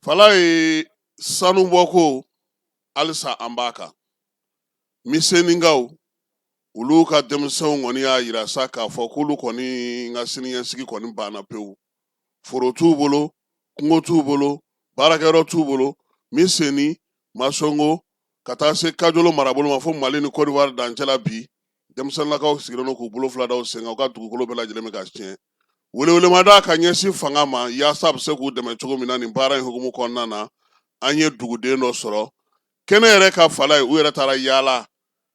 Fala ye sanu bɔko halisa an b'a kan misenikaw olu ka denmisɛnw kɔni y'a yira sa k'a fɔ k'olu kɔni n ka siniɲɛsigi kɔni banna pewu foro t'u bolo kungo t'u bolo baarakɛyɔrɔ t'u bolo miseni masɔngo ka taa se kajolo marabolo ma fo mali ni Côte d'Ivoire dancɛ la bi denmisɛnlakaw sigilen don k'u bolo fila da u sen kan u ka dugukolo bɛɛ lajɛlen bɛ ka tiɲɛ Welewelemada ka ɲɛsin fanga ma yaasa bɛ se k'u dɛmɛ cogo min na nin baara in hukumu kɔnɔna na an ye duguden dɔ sɔrɔ kɛnɛ yɛrɛ kan fala ye u yɛrɛ taara yaala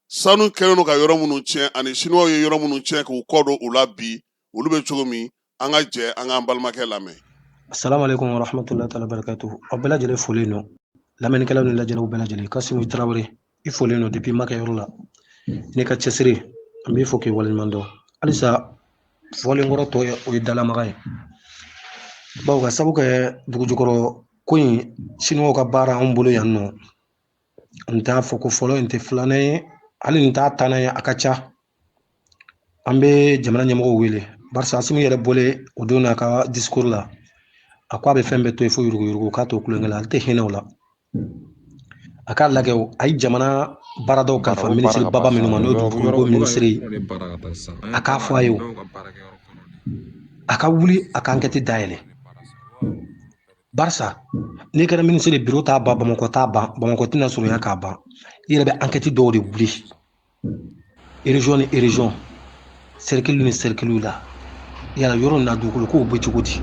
sanu kɛlen don ka yɔrɔ minnu tiɲɛ ani siniwaw ye yɔrɔ minnu tiɲɛ k'u kɔ don u la bi olu bɛ cogo min an ka jɛ an k'an balimakɛ lamɛn assalamu alaikum warahmatullahi ta'ala barakatuh aw bɛɛ lajɛlen folen don lamɛnnikɛlaw ni lajɛlaw bɛɛ lajɛlen Kasimu Tarawele i folen don depuis ma kɛ yɔrɔ la n'i ka cɛsiri an b'i fo k'i waleɲuman dɔn halisa fɔlen kɔrɔ tɔ ye o ye dalamaga ye bawo ka sabu kɛ dugujukɔrɔ ko in siniwaw ka baara anw bolo yan nin t'a fɔko fɔlɔ ye nin t'a filanan ye hali nin t'a tannan ye a ka ca an bɛ jamana ɲɛmɔgɔw wele barisa Asimi yɛrɛ bɔlen o don n'a ka discours la a ko a bɛ fɛn bɛɛ to yen fo yuruguyurugu k'a to kulonkɛ la ale tɛ hinɛ o la A k'a lajɛ o, a ye jamana baaradaw kalifa minisiri baba minnu ma n'o ye dugukolo ko minisiri ye, a k'a fɔ a ye o, a ka wuli a ka ankɛti dayɛlɛ barisa n'i kɛra minisiri ye biro t'a ban Bamakɔ t'a ban Bamakɔ tɛna surunya k'a ban i yɛrɛ bɛ ankɛti dɔw de wuli région ni région cercle ni cercle la yala yɔrɔ na dugukolo kow bɛ cogo di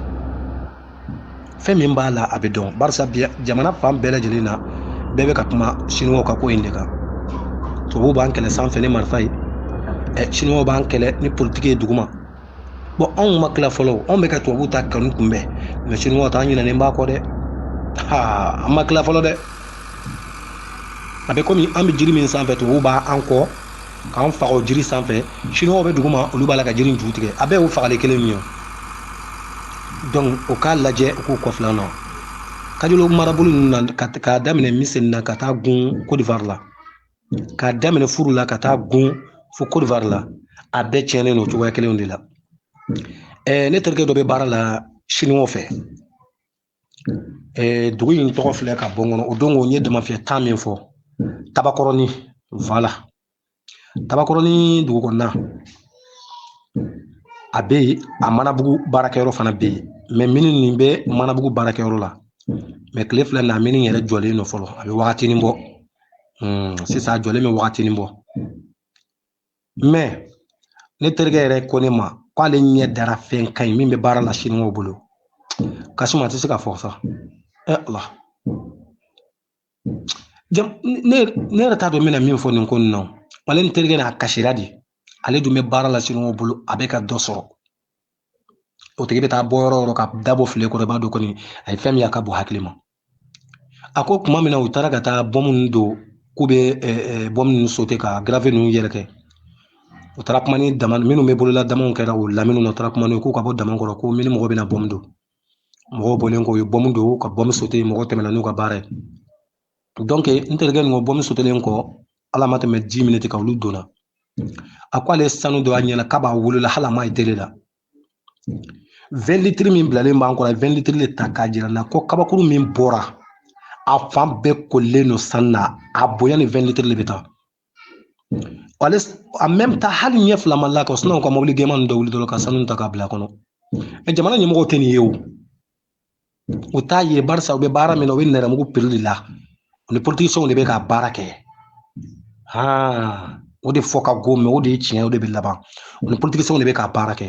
fɛn min b'a la a bɛ dɔn barisa bi jamana fan bɛɛ lajɛlen na bɛɛ bɛ ka kuma siniwaw ka ko in de kan tubabuw b'an kɛlɛ sanfɛ ni marifa ye ɛ siniwaw b'an kɛlɛ ni politiki ye duguma bon anw ma tila fɔlɔ anw bɛ ka tubabuw ta kɔni kunbɛn mais siniwaw ta an ɲinɛnen b'a kɔ dɛ aa an ma tila fɔlɔ dɛ a bɛ komi an bɛ jiri min sanfɛ tubabuw b'an kɔ k'an faga o jiri sanfɛ siniwaw bɛ duguma olu b'a la ka jiri in ju tigɛ a bɛɛ y'o fagali kelen min ye donc u k'a lajɛ u k'u kɔfilɛ an na kajolo marabolo ninnu na k'a daminɛ miseni na ka taa gun Côte d'Ivoire la k'a daminɛ furu la ka taa gun fo Côte d'Ivoire la a bɛɛ tiɲɛnen don cogoya kelenw de la ne terikɛ dɔ bɛ baara la siniwaw fɛ dugu in tɔgɔ filɛ ka bɔ n kɔnɔ o don ko n ye damafiyɛ ta min fɔ tabakɔrɔni la tabakɔrɔni dugu kɔnɔna a bɛ yen a manabugu baarakɛyɔrɔ fana bɛ yen mais minnu nin bɛ manabugu baarakɛyɔrɔ la mais tile fila na min yɛrɛ jɔlen don fɔlɔ a bɛ waati bɔ Hmm, sisan a jɔlen bɛ wagatinin bɔ mɛ ne terikɛ yɛrɛ ko ne ma k'ale ɲɛ dara fɛn kan nin min bɛ baara la siniwaw bolo kasimu a tɛ se ka fɔ sa ɛ ala ne yɛrɛ t'a dɔn n bɛna min fɔ nin ko nin na ale ne terikɛ n'a kasira de ale dun bɛ baara la siniwaw bolo a bɛ ka dɔ sɔrɔ o tigi bɛ taa bɔ yɔrɔ o yɔrɔ ka dabɔ fili kɔrɔ i b'a dɔn kɔni a ye fɛn min ye a ka bon hakili ma a ko tuma min na u taara ka taa bɔmu ninnu don k'u bɛ bɔmu ninnu sote ka garafe ninnu yɛrɛkɛ u taara kuma ni dama minnu bɛ bolola damaw kɛra u lamini na u taara kuma n'u ye k'u ka bɔ dama kɔrɔ ko mini mɔgɔ bɛna bɔmu don mɔgɔw bɔlen kɔ u ye bɔmu don ka bɔmu sote mɔgɔw tɛmɛna n'u ka baara ye donc n terikɛ nin ko bɔmu sotelen kɔ ala ma tɛmɛ dix minutes kan olu donna a ko ale sanu dɔ y'a ɲɛ na kabi a wolola hali a ma ye tele la vingt litres min bilalen b'an kɔrɔ vingt litres de ta k'a jira n na ko kabakuru min bɔra a fan bɛɛ kolilen don sanu na a bonya ni vingt litres de bɛ taa ale en même temps hali ɲɛ fila ma la ka siniwaw ka mɔbili gɛman ninnu dɔ wuli dɔrɔn ka sanu ta k'a bila kɔnɔ jamana ɲɛmɔgɔw tɛ nin ye o u t'a ye barisa u bɛ baara min na u bɛ nɛrɛmugu piri de la u ni politisiyɛnw de bɛ ka baara kɛ haa o de fɔ ka go mɛ o de ye tiɲɛ o de bɛ laban u ni politisiyɛnw de bɛ ka baara kɛ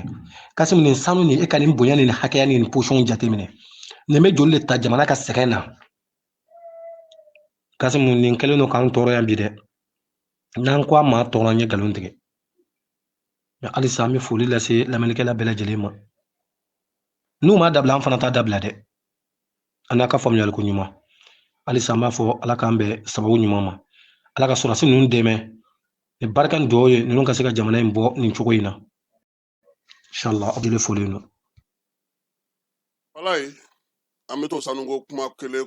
kasimu nin sanu nin e ka nin bonya nin hakɛya nin posɔn jateminɛ nin bɛ joli de ta jamana ka sɛgɛn na kasimu nin kɛlen don k'an tɔɔrɔ yan bi dɛ n'an ko an ma tɔɔrɔ an ye nkalon tigɛ halisa an bɛ foli lase lamɛnnikɛla bɛɛ lajɛlen ma n'u m'a dabila an fana t'a dabila dɛ an n'a ka faamuyaliko ɲuman halisa an b'a fɔ ala k'an bɛn sababu ɲuman ma ala ka sɔrɔdasi ninnu dɛmɛ ni barika ni dugawu ye ninnu ka se ka jamana in bɔ nin cogo in na inshallah aw bɛɛ foli don walayi an bɛ to sanuko kuma kelen